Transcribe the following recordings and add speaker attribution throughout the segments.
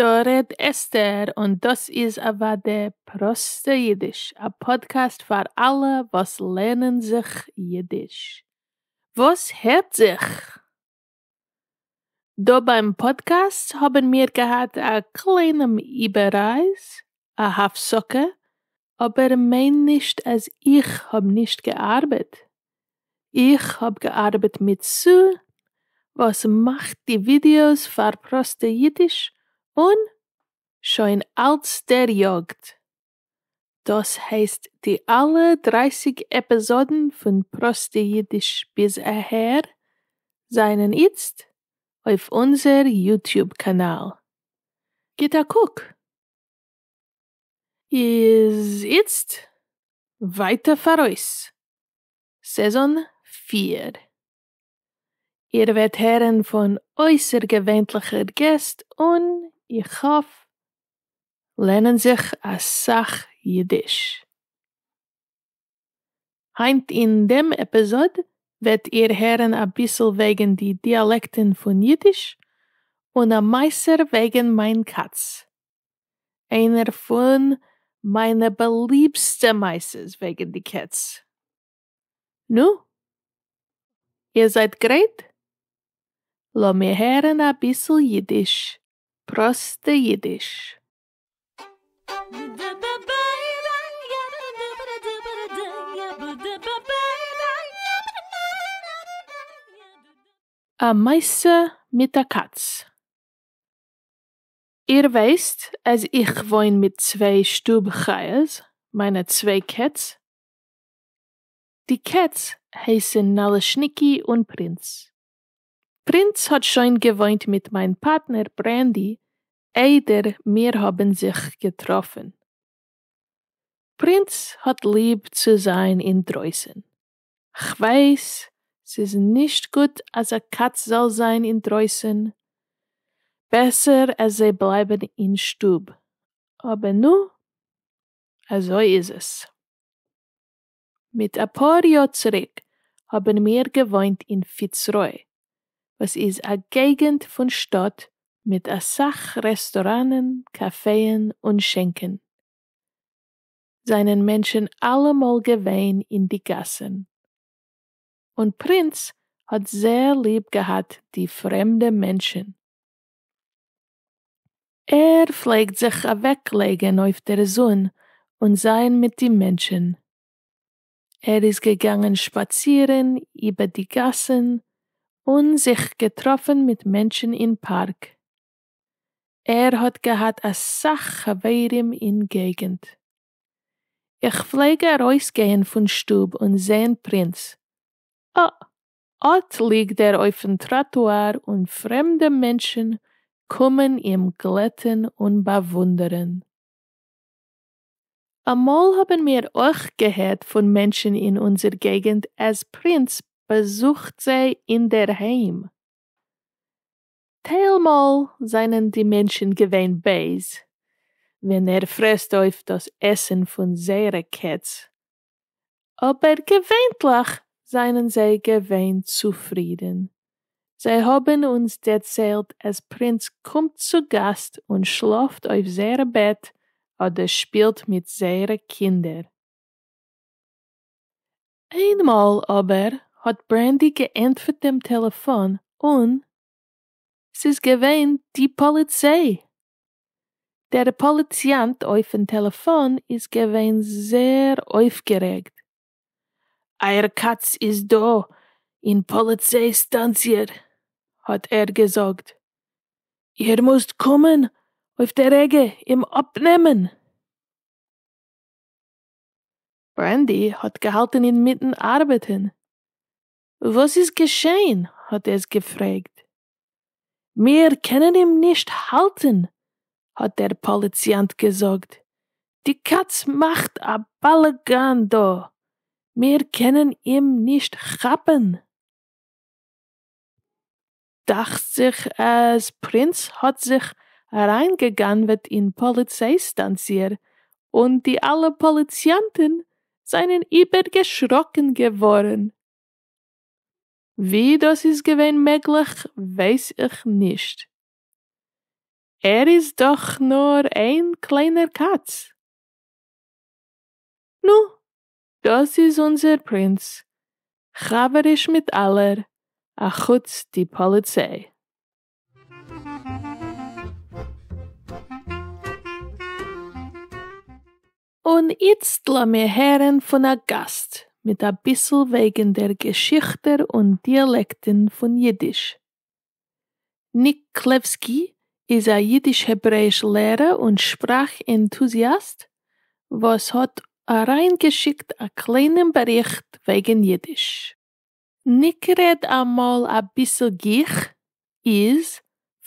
Speaker 1: דא רעד אסתר און דאס איז אוואדע פראסטע אידיש, א פאדקעסט פאר אלע וואס לערנען זיך אידיש. וואס הערט זיך? דא ביים פאדקעסט האבן מיר געהאט א קליינעם איבעררייז, א הפסקה, אבער מיין נישט אז איך האב נישט געארבעט, איך האב געארבעט מיט סא וואס מאכט די ווידיאוס פאר פראסטע אידיש און שוין אלץ דעריאגט. דאס הייסט די אלע דרייסיג עפעזאדן פון פראסטע אידיש ביז אהער זענען איצט אויף אונזער יוטיוב קאנאל. גיט א קוק. איז איצט ווייטער פאראויס, סעזאן פֿיר. איר וועט הערן פון אויסערגעווענליכע געסט און, איך האף, לערנען זיך אסאך אידיש. היינט אין דעם עפיזאד וועט איר הערן אביסל וועגן די דיאלעקטן פון אידיש, און א מעשה וועגן מיין קאץ. איינער פון מיינע באליבסטע מעשות וועגן די קעץ. נו? איר זייט גרייט? לאמיר הערן אביסל אידיש, פראסטע אידיש. א מעשה מיט א קאץ. איר ווייסט אז איך וואוין מיט צוויי שטוב חיות, מיינע צוויי קעץ. די קעץ הייסן נאלעשניקי און פרינץ. פרינץ האט שוין געוואוינט מיט מיין פארטנער ברענדי איידער מיר האבן זיך געטראפן. פרינץ האט ליב צו זיין אינדרויסן, כ'ווייס ס'איז נישט גוט אז א קאץ זאל זיין אינדרויסען, בעסער אז זיי בלייבען אין שטוב, אבער נו, אזוי איז עס. מיט אפאר יאר צוריק האבען מיר געוואוינט אין פיצרוי, וואס איז א געגענט פון שטאט מיט אסאך רעסטוראנען, קאפעען און שענקען. זענען מענטשן אלעמאל געווען אין די גאסן, און פרינץ האט זעהר ליב געהאט די פרעמדע מענטשן, ער פלעגט זיך אוועק לייגן אויף דער זון און זיין מיט די מענטשן, ער איז געגאנגען שפאצירן איבער די גאסן און זיך געטראפן מיט מענטשן אין פארק, ער האט געהאט אסאך חברים אין געגענט. איך פלעג ארויס גייען פון שטוב און זעהן פרינץ, אה, אט ליגט ער אויפן טראטואר און פרעמדע מענטשן קומען אים גלעטן און באוואונדערן. אמאל האבן מיר אויך געהערט פון מענטשן אין אונזער געגענט אז פרינץ באזוכט זיי אינדערהיים. טיילמאל זענען די מענטשן געווען בייז ווען ער פרעסט אויף דאס עסן פון זייערע קעץ, אבער געווענטליך זענען זיי געווען צופרידן. זיי האבן אונז דערציילט אז פרינץ קומט צו גאסט און שלאפט אויף זייער בעט אדער שפילט מיט זייערע קינדער. איינמאל אבער האט ברענדי געענטפערט דעם טעלעפאן און ס'איז געווען די פאליציי! דער פאליציאנט אויפן טעלעפאן איז געווען זעהר אויפגערעגט, אייער קאץ איז דא אין פאליציי סטאנציע האט ער געזאגט, איר מוזט קומען אויף די רגע אים אפנעמען! ברענדי האָט געהאַלטן אין מיטן אַרבעטן. וואָס איז געשען? האָט עס געפֿרעגט. מיר קענען אים נישט האַלטן, האָט דער פּאָליציאַנט געזאָגט. די קאַץ מאַכט אַ באַלאַגאַן דאָ. מיר קענען אים נישט כאַפּן. דאכט זיך אז פרינס האט זיך אריינגעגנב'עט אין פאליציי סטאנציער און די אלע פאליציאנטען זענען איבערגעשראקען געווארען. ווי דאס איז געווען מעגליך ווייס איך נישט. ער איז דאך נאר איין קליינער קאץ. נו. דאָס איז אונדזער פּרינץ, חבֿריש מיט אַלער, אַ חוץ די פּאָליצײ. און איצט לאָמיר הערן פֿון אַ גאַסט מיט אַ ביסל װעגן דער געשיכטע און דיאַלעקטן פֿון ייִדיש. ניק קלעווסקי איז א יידיש-העברעיש לערער און שפראך ענטוזיאסט וואס האט אריינגעשיקט א קליינעם באריכט וועגן יידיש. ניק רעד אמאל אביסל גיך, איז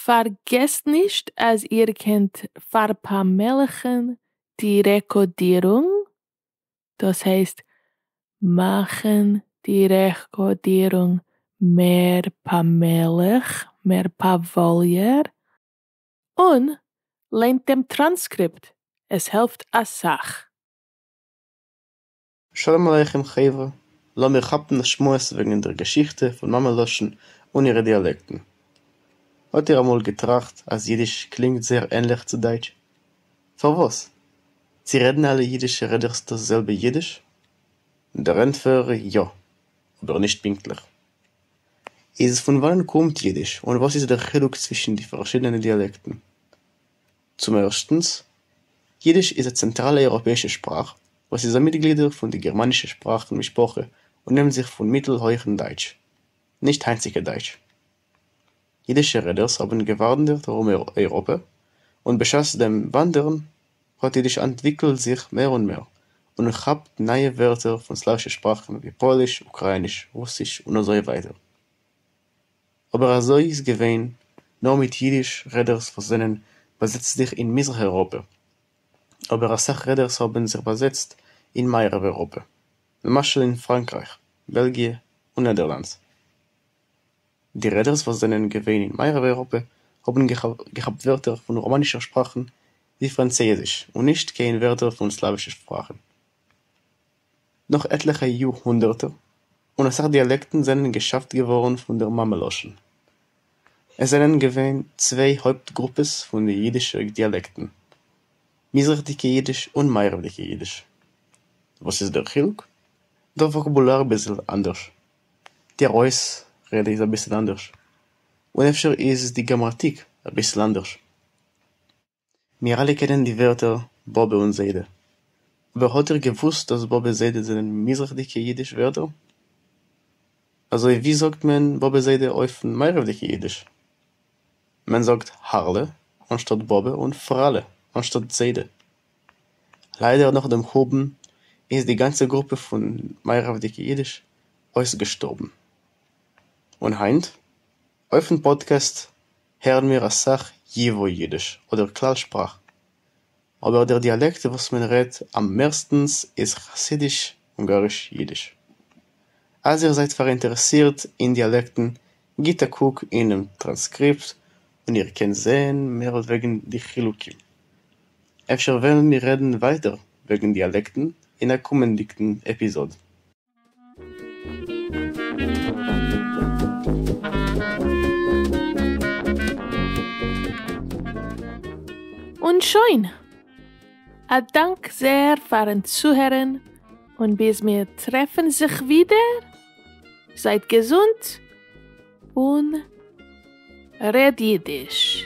Speaker 1: פארגעסט נישט אז איר קענט פארפאמעליכן די רעקאדירונג דאס הייסט מאכן די רעקארדירונג מער פאמעליך, מער פאוואליער, און ליינט דעם טראנסקריפט, עס העלפט אסאך.
Speaker 2: שלום עליכם חברה, לאמיר כאפן א שמועס וועגן דער געשיכטע פון מאמע לשון און אירע דיאלעקטן. האט איר אמאל געטראכט אז אידיש קלינגט זייער ענליך צו דייטש? פארוואס? צו רעדן אלע אידישע רעדערס דאס זעלבע אידיש? דער ענטפער, יא, אבער נישט פונקטליך. איז פון וואנען קומט אידיש און וואס איז דער חילוק צווישן די פארשידענע דיאלעקטן? צום ערשטנס, אידיש איז א צענטראלע אייראפעאישע שפראך וואס איז א מיטגלידער פון די גערמאנישע שפראכן משפחה און נעמט זיך פון מיטל-הויכן דייטש, נישט היינטציקע דייטש. ייִדישע רעדערס האָבן געוואַנדערט אַרום אייראָפּע, און בשעת דעם וואַנדערן האָט ייִדיש אַנטוויקלט זיך מער און מער און כאַפּט נײַע ווערטער פֿון סלאַווישע שפּראַכן ווי פּויליש, אוקראַיִניש, רוסיש און אַזוי ווײַטער. אָבער אַזוי איז געווען נאָר מיט ייִדיש רעדערס וואָס זענען באַזעצט זיך אין מיזרח-אייראָפּע, אָבער אַ סך רעדערס האָבן זיך באַזעצט אין מערב-אייראָפּע, למשל אין פֿראַנקרײַך, בעלגיע און נעדערלאַנדס. די רעדערס וואס זענען געווען אין מערב אייראפע האבן געכאפט ווערטער פון ראמאנישער שפראכן ווי פראנצייזיש און נישט קיין ווערטער פון סלאווישע שפראכן. נאך עטליכע יאר הונדערטער און אסאך דיאלעקטן זענען געשאפט געווארן פון דער מאמע לשון. עס זענען געווען צוויי הויפט גרופעס פון די אידישע דיאלעקטן, מזרח'דיגע אידיש און מערב'דיגע אידיש. וואס איז דער חילוק? דער וואקאבולאר ביסל אנדערש. דער אויסרעדע איז אביסל אנדערש, און אפשר איז די גראמאטיק אביסל אנדערש. מיר אלע קענען די ווערטער באבע און זיידע, אבער האט איר געוואוסט אז באבע זיידע זענען מזרח'דיגע אידיש ווערטער? אזוי ווי זאגט מען באבע זיידע אויפן מערב'דיגע אידיש? מען זאגט הארלע אנשטאט באבע און פראלע אנשטאט זיידע. ליידער נאך דעם חורבן איז די גאנצע גרופע פון מערב'דיגע אידיש אויסגעשטארבן. און היינט? אויפן פאדקעסט הערן מיר אסאך ייווא אידיש אדער כלל שפראך. אבער דער דיאלעקט וואס מען רעדט אממערסטנס איז חסידיש-אונגאריש אידיש. אז איר זייט פאראינטערעסירט אין דיאלעקטן גיט א קוק אינעם טראנסקריפט און איר קענט זעהן מער וועגן די חילוקים. אפשר וועלן מיר רעדן ווייטער וועגן דיאלעקטן אין א קומענדיגן עפיזאד. און
Speaker 1: שוין! א דאנק זעהר פארן צוהערן און ביז מיר טרעפן זיך ווידער! זייט געזונט און רעד אידיש.